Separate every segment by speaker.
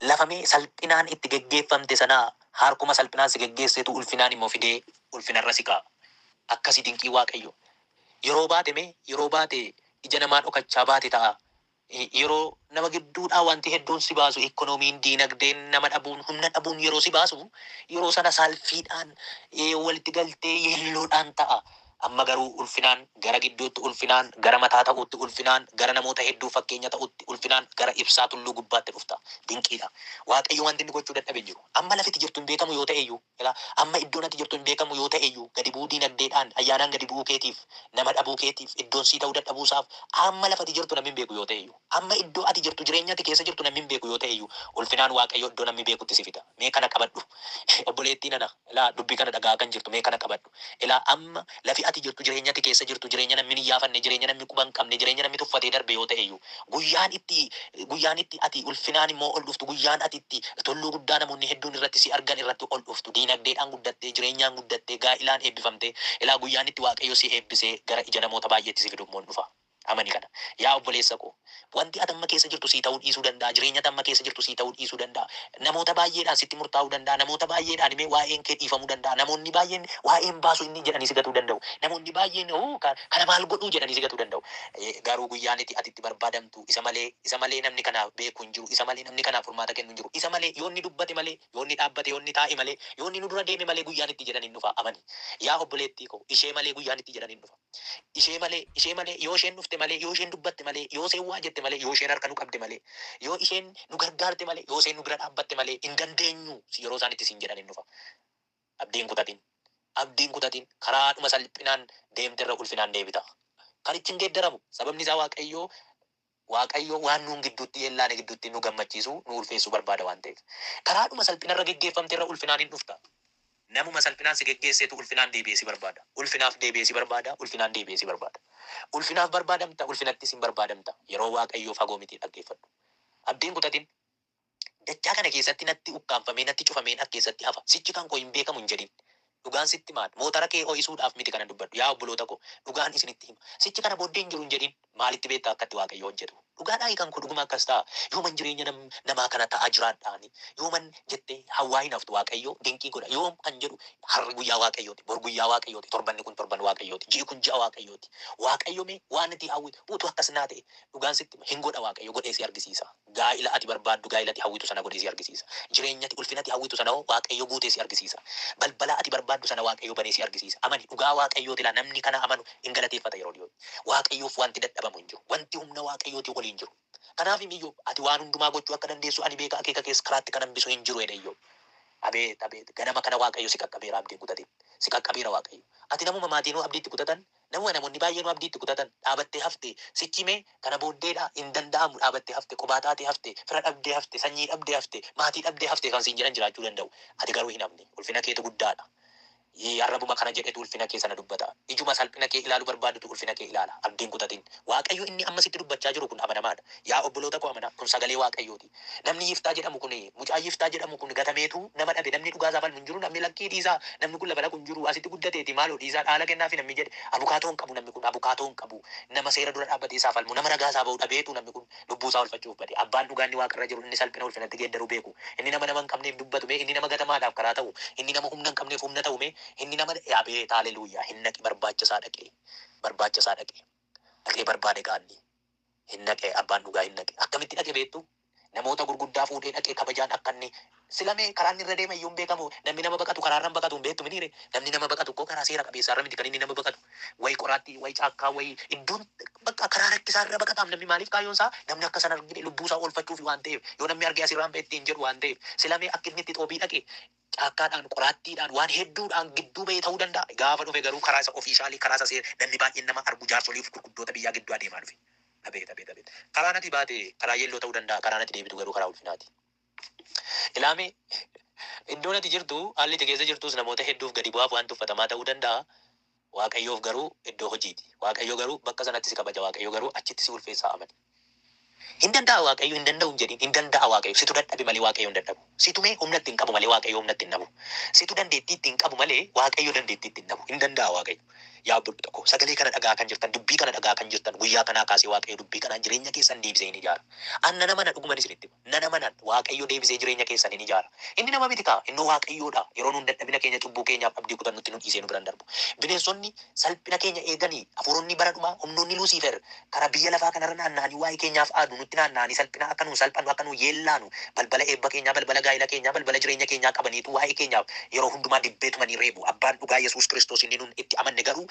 Speaker 1: Lafa mee salphinaan itti geggeeffamte sana harkuma salphinaan si geggeessetu ulfinaan immoo fidee ulfinarra si kaa'a. Akkasi dinqii Waaqayyoo. Yeroo baate mee yeroo baate ija namaa dhokachaa baate ta'aa Yeroo nama gidduudhaa wanti hedduun si baasu, ikkonoomiin, diinagdeen, nama dhabuun, humna dhabuun yeroo si baasu, yeroo sana saalfiidhaan, walitti galtee yeelloodhaan ta'a. Amma garuu ulfinaan, gara gidduutti ulfinaan, gara mataa ta'uutti ulfinaan, gara namoota hedduuf fakkeenya ta'uutti ulfinaan, gara ibsaa tulluu gubbaatti dhufta. Dinqiidha. Waaqayyo wanti inni gochuu dadhabe hin jiru. Amma lafiti jirtu hin beekamu yoo ta'eyyuu. Ilaa, amma iddoon ati jirtu hin beekamu yoo ta'e iyyuu, gadi bu'uu diinagdeedhaan, ayyaanaan gadi bu'uu keetiif, nama dhabuu keetiif, iddoon sii ta'uu dadhabuu isaaf, amma lafa ati jirtu namni hin beeku yoo ta'e iyyuu, amma iddoo ati jirtu, jireenya ati keessa jirtu namni hin beeku yoo ta'e iyyuu, ulfinaan Waaqayyo iddoo namni beekutti si fida. Mee kana qabadhu. Obboleettii nana, ilaa, dubbii kana dhaga'aa kan jirtu, mee kana qabadhu. Ilaa amma, lafi ati jirtu, jireenya ati keessa jirtu, jireenya nammi hin iyyaafanne, jireenya nammi quba hin qabne, jireenya nammi tuffatee darbe yoo ta'e iyyuu, guyyaan itti, guyyaan itti ati ulfinaan immoo ol dhuftu, guyyaan ati itti tulluu guddaa namoonni hedduun irratti si argan irratti ol dhuftu, diinagdeedhaan guddattee, jireenyaan guddattee, gaa'ilaan eebbifamtee, ilaa guyyaan itti Waaqayyo si eebbisee gara ija namoota baay'eetti si fidu immoo in dhufa. Amani kana. Yaa obboleessa koo! Wanti ati amma keessa jirtu sii ta'uu dhiisuu danda'a, jireenyi ati amma keessa jirtu sii ta'uu dhiisuu danda'a. Namoota baay'eedhaan sitti murtaa'uu danda'a, namoota baay'eedhaan mee waa'een kee dhiifamuu danda'a, namoonni baay'een waa'een baasuu inni jedhanii si gatuu danda'u, namoonni baay'een hoo kana maal godhuu jedhanii si gatuu danda'u. Garuu guyyaan iti ati itti barbaadamtu isa malee, isa malee namni kana beeku hin jiru, isa malee namni kanaaf furmaata kennu hin jiru, isa malee, yoo inni dubbate malee, yoo inni dhaabbate, yoo inni taa'e malee, yoo inni nu dura deeme malee guyyaan itti jedhan hin dhufa. Amani. Yaa obboleettii koo! Ishee malee guyyaan itti jedhan hin dhufa. Ishee malee, ishee malee, yoo isheen dhufte malee, yoo isheen dubbatte malee, yoo isheen waa jette malee, yoo isheen harka nu qabde malee, yoo isheen nu gargaarte malee, yoo isheen nu bira dhaabbatte malee hin dandeenyu yeroo isaan itti siin jedhan hin dhufa. Abdii hin kutatin. Abdii hin kutatin. Karaadhuma salphinaan deemterra ulfinaan deebita. Kan itti hin geeddaramu. Sababni isaa Waaqayyoo Waaqayyo waan nuun gidduutti hin laane gidduutti nu gammachiisuu, nu ulfeessuu barbaada waan ta'eef. Karaadhuma salphina irra geggeeffamte irra ulfinaan hin dhufta. Namuma salphinaan si geggeessetu ulfinaan deebi'ee si barbaada. Ulfinaaf deebi'ee si barbaada, ulfinaan deebi'ee si barbaada. Ulfinaaf barbaadamta, ulfinattis hin barbaadamta. Yeroo Waaqayyoo fagoo miti dhaggeeffadhu. Abdii hin kutatin. Dachaa kana keessatti natti ukkaamfamee, natti cufameen as keessatti hafa. Sichi kan koo hin beekamu hin jedhin. Dhugaan sitti maal? Mootara kee ho'isuudhaaf miti kanan dubbadhu. Yaa obboloota koo, dhugaan isinitti hima. Sichi kana booddee hin jiru hin jedhin. Maalitti beekta akka itti Waaqayyo hojjetu? Dhugaadhaayi kan koo dhuguma akkas ta'a. Yooman jireenya nam, namaa kana ta'aa jiraadhaani? Yooman? jettee hawwaa hin haftu. Waaqayyo dinqii godha. Yoom? kan jedhu harri guyyaa Waaqayyooti, bor guyyaa Waaqayyooti, torbanni kun torban Waaqayyooti, ji'i kun ji'a Waaqayyooti. Waaqayyo mee waan ati hawwitu utuu akkas naa ta'ee? Dhugaan sitti hima, hin godha Waaqayyo, godhee si argisiisaa. Gaa'ila ati barbaaddu, gaa'ila ati hawwitu sana godhee si argisiisa. Jireenya ati ulfina ati hawwitu sana hoo Waaqayyo guutee si argisiisa. Balbala ati barbaaddu sana Waaqayyo banee si argisiisa. Amani, dhugaa Waaqayyooti laa namni kana amanu in galateeffata yeroo dhiyootti. Waaqayyoof wanti dadhabamu hin jiru. Wanti humna Waaqayyootii oli hin jiru. Kanaafim Iyyoob, Ati waan hundumaa gochuu akka dandeessu ani beeka, akeeka kees karaatti kan hambisu hin jiru jedhe Iyyoob. Abeet! Abeet! Ganama kana Waaqayyo si qaqqabeera abdiin kutatee. Si qaqqabeera Waaqayyo. Ati namuma maatiinuu abdii itti kutatan, Nama namoonni baay'eenuu abdii itti kutatan, dhaabattee hafte, sichi mee kana booddee dha, hin danda'amu, dhaabattee hafte, qobaa taatee hafte, fira dhabdee hafte, sanyii dhabdee hafte, maatii dhabdee hafte kan siin jedhan jiraachuu danda'u. Ati garuu hin hafne. Ulfina keetu guddaa dha. Yii, arrabuma kana jedhetu ulfina kee sana dubbata. Ijuma salphina kee ilaalu barbaadutu ulfina kee ilaala. Abdii hin kutatin. Waaqayyo inni amma sitti dubbachaa jiru kun amanamaa dha. Yaa obboloota koo amanaa, kun sagalee Waaqayyoo ti. Namni Yiftaa jedhamu kun, mucaan Yiftaa jedhamu kun gatameetu nama dhabe, namni dhugaa isaa falmu hin jiru, namni lakkii dhiisaa, namni kun lafa dhaqu hin jiru, asitti guddateeti, maaloo dhiisaa dhaala kennaafii namni jedhe abukaatoo hin qabu namni kun, abukaatoo hin qabu, nama seera dura dhaabbatee isaa falmu, nama ragaa isaa bahu dhabeetu namni kun lubbuu isaa oolfachuuf bade. Abbaan dhugaa inni waaqa irra jiru, inni salphina ulfinatti geeddaruu beeku, inni nama nama hin qabneef dubbatu mee, inni nama gatamaadhaaf karaa ta'u, inni nama humna hin qabneef humna ta'u mee, inni nama, abeet, haalleluuyyaa, hin dhaqi barbaacha isaa dhaqee, barbaacha isaa dhaqee, dhaqee barbaade gaanni, hin dhaqe abbaan dhugaa hin dhaqe akkamitti dhaqe beektu namoota gurguddaa fuudhee dhaqee kabajaan akka inni sila mee karaa inni irra deeme iyyuu hin beekamu namni nama baqatu karaa irra hin baqatu hin beektu miniire namni nama baqatu koo karaa seera qabeessaa irra miti kan inni nama baqatu wayi qoraatti wayi caakkaa wayi iddoon bakka karaa rakkisaa irra baqataam namni maaliif kaayyoon isaa namni akka sana argine lubbuu isaa oolfachuuf waan ta'eef yoo namni argee asirraan ba'e ittiin jedhu waan ta'eef sila mee akka inni itti xoobii dhaqe caakkaadhaan, qoraattiidhaan, waan hedduudhaan gidduu ba'ee ta'uu danda'a. Gaafa dhufe garuu karaa isa officially, karaa isa seer, namni baay'een nama argu, jaarsolii fi gurguddoota biyyaa gidduu adeemaa dhufe. Abeet! Abeet! Abeet! Karaan ati baate karaa yelloo ta'uu danda'a, karaan ati deebitu garuu karaa ulfinaati. Ilaamee! Iddoon ati jirtu, haalli ati keessa jirtus namoota hedduuf gadi bu'aaf waan tuffatamaa ta'uu danda'a. Waaqayyoof garuu iddoo hojiiti. Waaqayyo garuu bakka sanatti si kabaja. Waaqayyo garuu achitti si ulfeessaa amani. Hin danda'a Waaqayyo hin danda'u hin jedhiin. Hin danda'a Waaqayyo. Situ dadhabe malee Waaqayyo hin dadhabu. Situ mee humna itti hin qabu malee Waaqayyo humna itti hin dhabu. Situ dandeettii itti hin qabu malee Waaqayyo dandeettii itti hin dhabu. Hin danda'a Waaqayyo. Yaa obboloota koo sagalee kana dhaga'aa kan jirtan, dubbii kana dhaga'aa kan jirtan guyyaa kanaa kaasee Waaqayyo dubbii kanaan jireenya keessan deebisee hin ijaara. An nan amana dhuguman isinitti hima. nan amana, Waaqayyo deebisee jireenya keessan in ijaara. Inni nama miti kaa, innoo Waaqayyoo dha. Yeroo nuun dadhabina keenya, cubbuu keenyaaf abdii kutannutti nu dhiisee nu bira hin darbu. Bineensonni salphina keenya eegani, hafuuronni bara dhumaa, humnoonni Luusiifer, karaa biyya lafaa kana irra naanna'anii waa'ee keenyaaf aadu, nutti naanna'anii salphina akka nuun salphannu, akka nuun yeellaanu, balbala eebba keenyaa, balbala gaa'ila keenyaa, balbala jireenya keenyaa qabaniitu waa'ee keenyaaf yeroo hundumaa dibbee tumanii reebu. Abbaan dhugaa Yesuus Kiristoos inni nuun itti amanne garuu,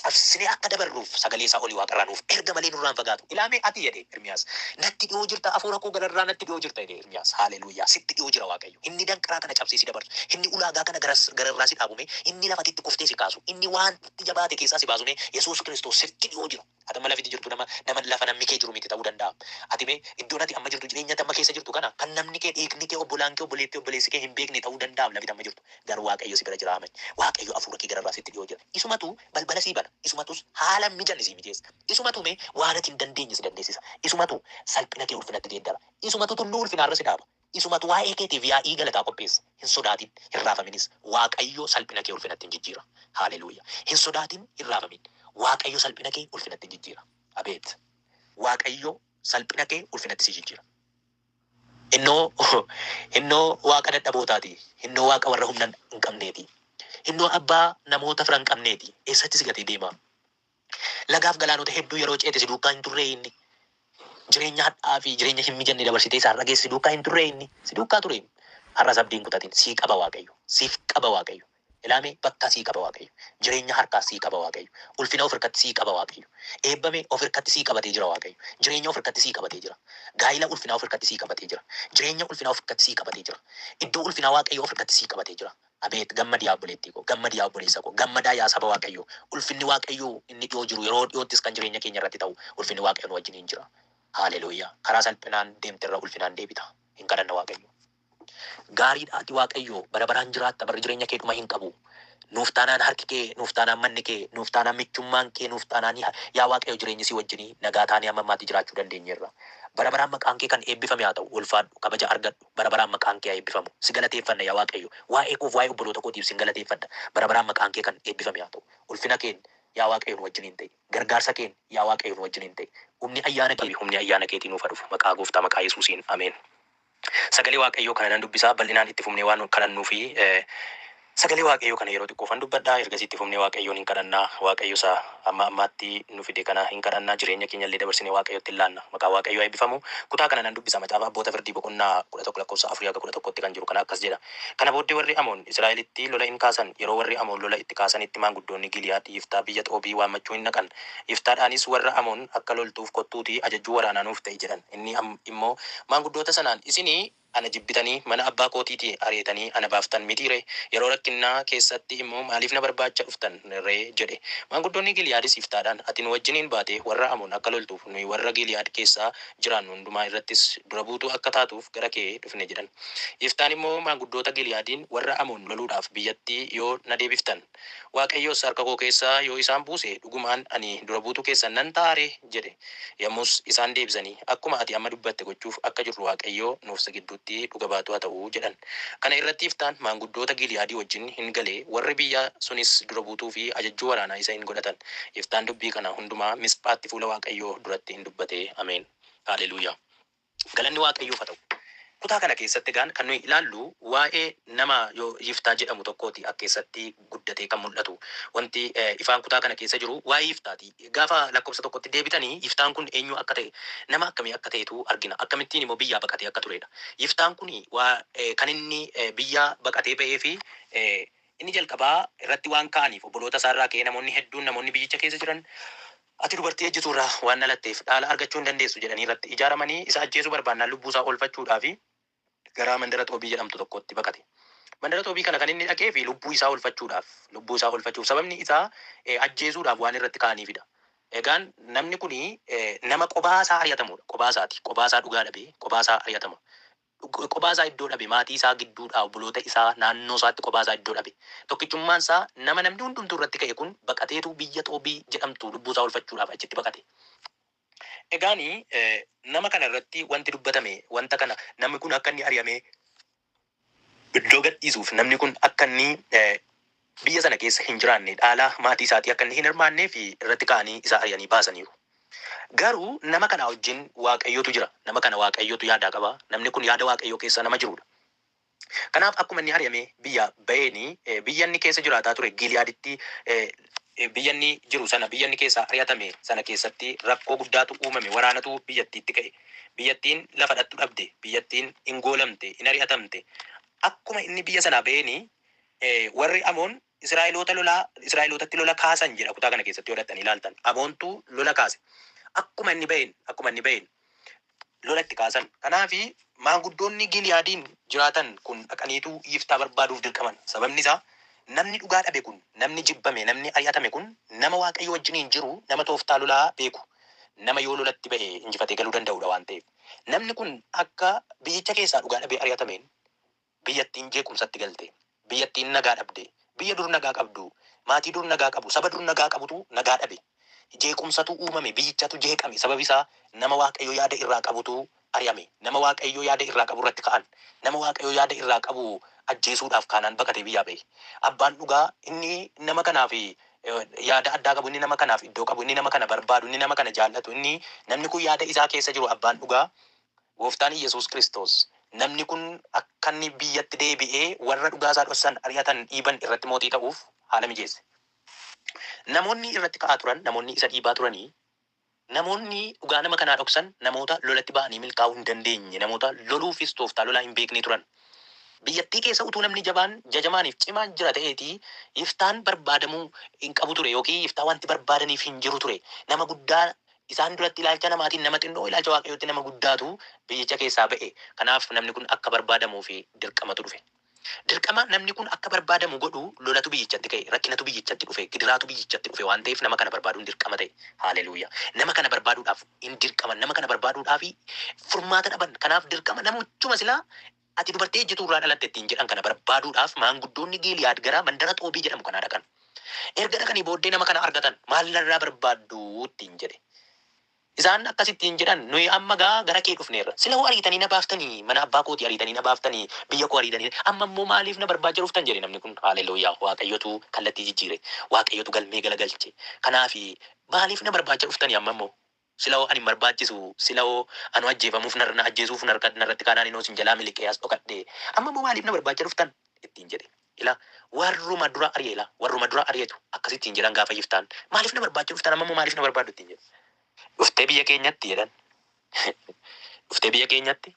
Speaker 1: cabsinee akka dabarruuf sagalee isaa oli waaqarraa nuuf erga malee nurraa hin fagaatu. Ilaa mee ati jedhe Ermiyaas. Natti dhihoo jirta afuura koo gararraa natti dhihoo jirta jedhe Ermiyaas. Haaleluyyaa! Sitti dhihoo jira Waaqayyo. Inni danqaraa kana cabsee si dabarsu. Inni ulaagaa kana garas gararraa si dhaabu mee inni lafati itti kuftee si kaasu. Inni waan itti jabaate keessaa si baasu mee Yesuus Kiristoos sitti dhihoo jira. Ati amma lafiti jirtu nama nama lafa namni kee jiru miti ta'uu danda'a. Ati mee iddoon ati amma jirtu jireenya ati amma keessa jirtu kana kan namni kee dhiigni kee obbolaan kee obboleetti obboleessi kee hin beekne ta'uu danda'aam lafiti amma jirtu. Garuu Waaqayyo si bira jiraa many. Waaqayyo afuura kee gararraa sitti dhiyoo jira. Isumatu balbala sii bana. Isumatus haala mijanne sii mijeessa. Isumatu mee waan ati hin dandeenye si dandeessisa. Isumatu salphina kee ulfinatti geeddara. Isumatu tulluu ulfinaa irra si dhaaba. Isumatu waa'ee keetiif yaa'ii galataa qopheessa. Hin sodaatin, hin raafaminis. Waaqayyo salphina kee ulfinatti in jijjiira. Haaleluyyaa! Hin sodaatin, hin raafamin. Waaqayyo salphina kee ulfinatti in jijjiira. Abeet! Waaqayyo salphina kee ulfinatti sii jijjiira. Innoo, innoo Waaqa dadhabootaa ti, innoo Waaqa warra humna hin qabnee ti, innoo Abbaa namoota fira hin qabnee ti, eessatti si gatee deema? Lagaa fi galaanota hedduu yeroo ceete si duukaa hin turree inni? Jireenya hadha'aa fi jireenya hin mijanne dabarsitee si har'a geesse si duukaa hin turree inni? Si duukaa ture inni. Har'as abdii hin kutatin, sii qaba Waaqayyo, siif qaba Waaqayyo. Ilaamee bakkaa sii qaba waaqayyo jireenyaa harkaa sii qaba waaqayyo ulfina of irkatti sii qaba waaqayyo eebbamee of irkatti sii qabatee jira waaqayyo jireenya of irkatti sii qabatee jira gaa'ila ulfinaa of irkatti sii qabatee jira jireenya ulfinaa of irkatti sii qabatee jira iddoo ulfinaa waaqayyo of irkatti sii qabatee jira abeet gammadi yaa obboleettii koo gammadi yaa obboleessa koo gammadaa yaa saba waaqayyo ulfinni waaqayyo inni dhiyoo jiru yeroo dhiyoottis kan jireenya keenya irratti ta'u ulfinni waaqayyo nu wajjiniin jira haaleluyyaa karaa salphinaan deemterra ulfinaan deebita hin kadhanna waaqayyo. Gaariidha ati waaqayyoo bara baraan jiraatta barri jireenya kee dhuma hin qabu nuuf taanaan harki kee nuuf taanaan manni kee nuuf taanaan michummaan kee nuuf taanaan yaa waaqayyo jireenyi si wajjinii nagaa taanee amma ammaatti jiraachuu dandeenyeerra bara baraan maqaan kee kan eebbifame haa ta'u ulfaadhu kabaja argadhu bara baraan maqaan kee haa eebbifamu si galateeffanna yaa waaqayyo waa'ee koof waa'ee obboloota kootiif sin galateeffadha bara baraan maqaan kee kan eebbifame haa ta'u ulfina keen yaa waaqayyo nu wajjiniin ta'i gargaarsa keen yaa waaqayyo nu wajjiniin ta'i humni ayyaana kee humni ayyaana keetii nuuf haa dhufu maqaa gooftaa maqaa yesuusiin ameen. Sagalee Waaqayyoo kana nan dubbisa, bal'inaan itti fufnee waan kadhannuufi Sagalee Waaqayyoo kana yeroo xiqqoofan dubbadha, ergasii itti fufnee Waaqayyoon in kadhanna. Waaqayyo isa amma ammaatti nu fide kana in kadhanna, jireenya keenya illee dabarsinee Waaqayyotti in laanna. Maqaan Waaqayyoo haa eebbifamu! Kutaa kana nan dubbisa, Macaafa Abboota Firdii boqonnaa 11 lakkoofsa 4-11 tti kan jiru kana akkas jedha, Kana booddee warri Amoon Israa'elitti lola in kaasan, yeroo warri Amoon lola itti kaasanitti maanguddoonni Giiliyaad Yiftaa biyya Xoobii waammachuu in dhaqan, Yiftaadhaanis, Warra Amoon akka loltuuf kottuutii ajajjuu waraanaa nuuf ta'i jedhan. Inni immoo maanguddoota sanaan, Isin ana jibbitanii mana abbaa kootiitii ariitanii ana baaftan mitii ree? Yeroo rakkinnaa keessatti immoo maaliif na barbaacha dhuftan ree? jedhe. Maanguddoonni Giiliyaadis Yiftaadhaan, Ati nu wajjiniin baatee warra Amoon akka loltuuf, nuyi warra Giiliyaad keessa jiraannu hundumaa irrattis dura buutuu akka taatuuf gara kee dhufne jedhan. Yiftaan immoo maanguddoota Giiliyaadiin, Warra Amoon loluudhaaf biyyatti yoo na deebiftan. Waaqayyos, Harka koo keessa yoo isaan buuse, dhugumaan ani dura buutuu keessan nan ta'aa ree? jedhe. Yommus isaan deebisanii, Akkuma ati amma dubbatte gochuuf akka jirru Waaqayyo nuuf si gidduutti dhuga baatuu haa ta'u jedhan. Kana irratti Yiftaan maanguddoota Giili'aadii wajjin in gale, warri biyya sunis dura buutuu fi ajajjuu waraanaa isa in godhatan. Yiftaan dubbii kana hundumaa Misphaatti fuula Waaqayyoo duratti in dubbate. Ameen. Haaleluyyaa. Galanni Waaqayyoof haa ta'u. Kutaa kana keessatti egaan kan nuyi ilaallu waa'ee nama Yiftaa jedhamu tokkooti akka eessatti guddatee kan mul'atu. Wanti ifaan kutaa kana keessa jiru waa'ee Yiftaati. Gaafa lakkoofsa tokkotti deebitanii Yiftaan kun eenyuu akka ta'e nama akkamii akka ta'etu argina. Akkamittiin immoo biyyaa baqatee akka tureedha. Yiftaan kun kan inni biyyaa baqatee ba'eefi Inni jalqabaa irratti waan ka'aniif obboloota isaa irraa ka'ee namoonni hedduun namoonni biyyicha keessa jiran Ati dubartii ejjituu irraa waan dhalatteef dhaala argachuu hin dandeessu jedhanii irratti ijaaramanii isa ajjeesuu barbaannaan lubbuu isaa oolfachuudhaaf gara mandara Xoobii jedhamtu tokkootti baqate. Mandara Xoobii kana kan inni dhaqeef lubbuu isaa oolfachuudhaaf lubbuu isaa oolfachuuf sababni isaa ajjeesuudhaaf waan irratti ka'aniif dha. Egaan namni kun nama qobaa isaa ari'atamu dha. Qobaa isaati. Qobaa isaa dhugaa dhabee qobaa isaa ari'atama. Qophaa isaa iddoo dhabe, maatii isaa gidduudhaa, obboloota isaa, naannoo isaatti qophaa isaa iddoo dhabe. Tokkichummaan isaa nama namni hundumtuu irratti ka'e kun baqateetu biyya Xoobii jedhamtu lubbuu isaa oolfachuudhaaf achitti baqate. Egaan nama kana irratti wanti dubbatame wanta kana namni kun akka inni ari'amee iddoo gadhiisuuf namni kun akka inni biyya sana keessa hin jiraanne dhaala maatii isaatii akka inni hin hirmaanneef irratti ka'anii isa ari'anii baasaniiru. Garuu nama kanaa wajjin Waaqayyotu jira. Nama kana Waaqayyotu yaadaa qaba. Namni kun yaada Waaqayyoo keessa nama jiruudha. Kanaaf akkuma inni ari'amee biyyaa ba'een biyya inni keessa jiraataa ture Giiliyaaditti biyya inni jiru sana biyya inni keessaa ari'atame sana keessatti rakkoo guddaatu uumame waraanatu biyyattiitti ka'e. Biyyattiin lafa dhattu dhabde, biyyattiin in goolamte, in ari'atamte. Akkuma inni biyya sanaa ba'een Warri Amoon Israa'eloota lolaa, Israa'elootatti lola kaasan jedha kutaa kana keessatti yoo dhaqxanii ilaaltan. Amoontu lola kaase. Akkuma inni ba'een, akkuma inni ba'een lola itti kaasan. Kanaaf maanguddoonni Giiliyaadiin jiraatan kun dhaqaniitu Yiftaa barbaaduuf dirqaman. Sababni isaa namni dhugaa dhabe kun, namni jibbame, namni ari'atame kun nama Waaqayyo wajjiniin jiru, nama tooftaa lolaa beeku, nama yoo lolatti ba'e injifatee galuu danda'udha waan ta'eef. Namni kun akka biyyicha keessaa dhugaa dhabee ari'atameen Biyyattiin jeequmsatti galte. Biyyattiin nagaa dhabde. Biyya dur nagaa qabdu, maatii dur nagaa qabu, saba dur nagaa qabutu nagaa dhabe. Jeequmsatu uumame, biyyichatu jeeqame. Sababi isaa nama Waaqayyo yaada irraa qabutu ari'ame. Nama Waaqayyo yaada irraa qabu irratti ka'an. Nama Waaqayyo yaada irraa qabu ajjeesuudhaaf kaanaan baqatee biyyaa ba'e. Abbaan dhugaa inni nama kanaaf yaada addaa qabu, inni nama kanaaf iddoo qabu, inni nama kana barbaadu, inni nama kana jaallatu, inni namni kun yaada isaa keessa jiru abbaan dhugaa Gooftaan Iyyesuus Kiristoos namni kun akka inni biyyatti deebi'ee warra dhugaa isaa dhossan, ari'atan, dhiiban irratti mootii ta'uuf haala mijeesse. Namoonni irratti ka'aa turan, namoonni isa dhiibaa turanii, namoonni dhugaa nama kanaa dhoksan namoota lolatti ba'anii milkaa'uu hin dandeenye, namoota loluufis tooftaa lolaa hin beeknee turan. Biyyattii keessa utuu namni jabaan, jajamaan fi cimaan jira ta'eetii Yiftaan barbaadamuu hin qabu ture ykn Yiftaa wanti barbaadaniif hin jiru ture. Nama guddaa Isaan duratti ilaalcha namaatiin nama xinnoo, ilaalcha Waaqayyootti nama guddaatu biyyicha keessaa ba'e. Kanaaf namni kun akka barbaadamuuf dirqamatu dhufe. Dirqama namni kun akka barbaadamu godhu lolatu biyyichatti ka'e, rakkinatu biyyichatti dhufe, gidiraatu biyyichatti dhufe waan ta'eef nama kana barbaaduun dirqama ta'e. Haaleluyyaa! Nama kana barbaaduudhaaf in dirqaman, nama kana barbaaduudhaaf furmaata dhaban. Kanaaf dirqama namichuma silaa Ati dubartii ejjituu irraa dhalatte ittiin jedhan kana barbaaduudhaaf maanguddoonni Giiliyaad gara mandara Xoobii jedhamu kanaa dhaqan. Erga dhaqanii booddee nama kana argatan, Maal narraa barbaaddu? ittiin jedhe. Isaan akkas ittiin jedhan, Nuyi amma egaa gara kee dhufneerra. Sila'uu ariitanii na baaftanii, mana abbaa kootii ariitanii na baaftanii, biyya koo ariitanii, amma immoo maaliif na barbaacha dhuftan? jedhe namni kun. Haaleluyyaa! Waaqayyotu kallattii jijjiire. Waaqayyotu galmee galagalche. Kanaaf, Maaliif na barbaacha dhuftanii amma immoo? Sila hoo an hin barbaachisu, sila hoo anu ajjeefamuuf na ajjeesuuf narratti kaanaan inoo isin jalaa miliqee as dhokadhe, amma immoo maaliif na barbaacha dhuftan? ittiin jedhe. Ilaa, warruma dura ari'e ilaa, warruma dura ari'etu akkas ittiin jedhan gaafa Yiftaan, maaliif na barbaacha dhuftan amma immoo maaliif na barbaaddu ittiin jedhe. Dhuftee biyya keenyatti? jedhan. Dhuftee biyya keenyatti?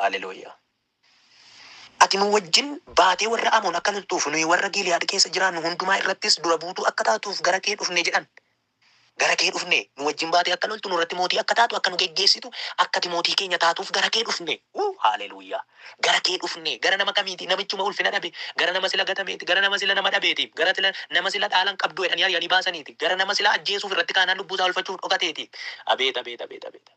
Speaker 1: Haaleluyyaa! Ati nuu wajjin baatee warra Amoon akka loltuuf, nuyi warra Giiliyaad keessa jiraannu hundumaa irrattis dura buutuu akka taatuuf gara kee dhufne jedhan. Gara kee dhufne, nuu wajjin baatee akka loltu, nu irratti mootii akka taatu, akka nu geggeessitu, akka ati mootii keenya taatuuf gara kee dhufne. Wuu! Haaleluyyaa! Gara kee dhufne, gara nama kamiiti? Namichuma ulfina dhabe, gara nama sila gatameeti, gara nama sila nama dhabeeti, gara sila nama sila dhaala hin qabdu jedhanii ari'anii baasaniiti, gara nama sila ajjeesuuf irratti kaanaan lubbuu isaa oolfachuuf dhokateeti. Abeet! Abeet! Abeet! Abeet! Abeet!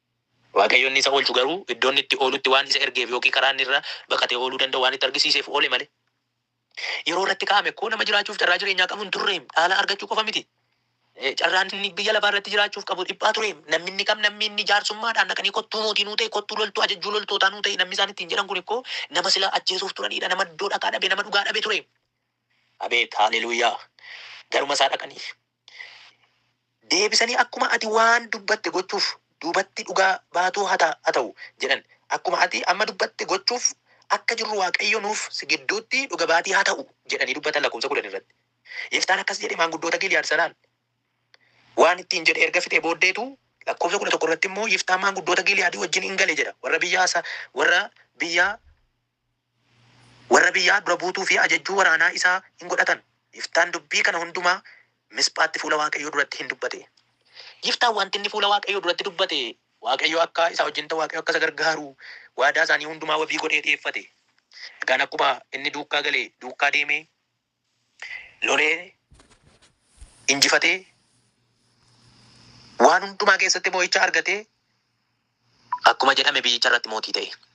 Speaker 1: Waaqayyo inni isa oolchu garuu iddoo inni itti oolutti waan isa ergeef ykn karaa inni irra baqatee ooluu danda'u waan itti argisiiseef oole malee. Yeroo irratti kaa'ame koo nama jiraachuuf carraa jireenyaa qabu hin turreem, dhaala argachuu qofa miti. Carraan inni biyya lafaa irratti jiraachuuf qabu dhiphaa tureem. Nammi inni kam nammi inni jaarsummaadhaan dhaqanii kottuu mootii nuu ta'i, kottuu loltuu ajajjuu loltootaa nuu ta'i nammi isaan ittiin jedhan kun koo nama sila ajjeesuuf turanii dha, nama iddoo dhaqaa dhabe, nama dhugaa dhabe tureem. Abeet! Haaleluyyaa! Garuma isaa dhaqanii. Deebisanii akkuma ati waan dubbatte gochuuf duubatti dhugaa baatuu ha ta'u jedhan. Akkuma ati amma dubbatte gochuuf akka jirru Waaqayyo nuuf si gidduutti dhuga baatii ha ta'u jedhanii dubbatan lakkoofsa 10 irratti. Yiftaan akkas jedhe maanguddoota Giiliyaad sanaan waan ittiin jedhe erga fixee booddeetu lakkoofsa 11 irratti immoo Yiftaan maanguddoota Giiliyaadii wajjin in gale jedha warra biyya warra biyya Warra biyyaa dura buutuu fi ajajjuu waraanaa isaa hin godhatan. Yiftaan dubbii kana hundumaa Misphaatti fuula Waaqayyoo duratti in dubbate. Yiftaan wanti inni fuula Waaqayyoo duratti dubbate, Waaqayyo akka isaa wajjin ta'u, Waaqayyo akka isa gargaaru, waadaa isaanii hundumaa wabii godhee dhi'eeffate. Egaan akkuma inni duukkaa gale, duukkaa deemee, lolee, injifatee, waan hundumaa keessatti mo'icha argatee, akkuma jedhame biyyicha irratti mootii ta'e.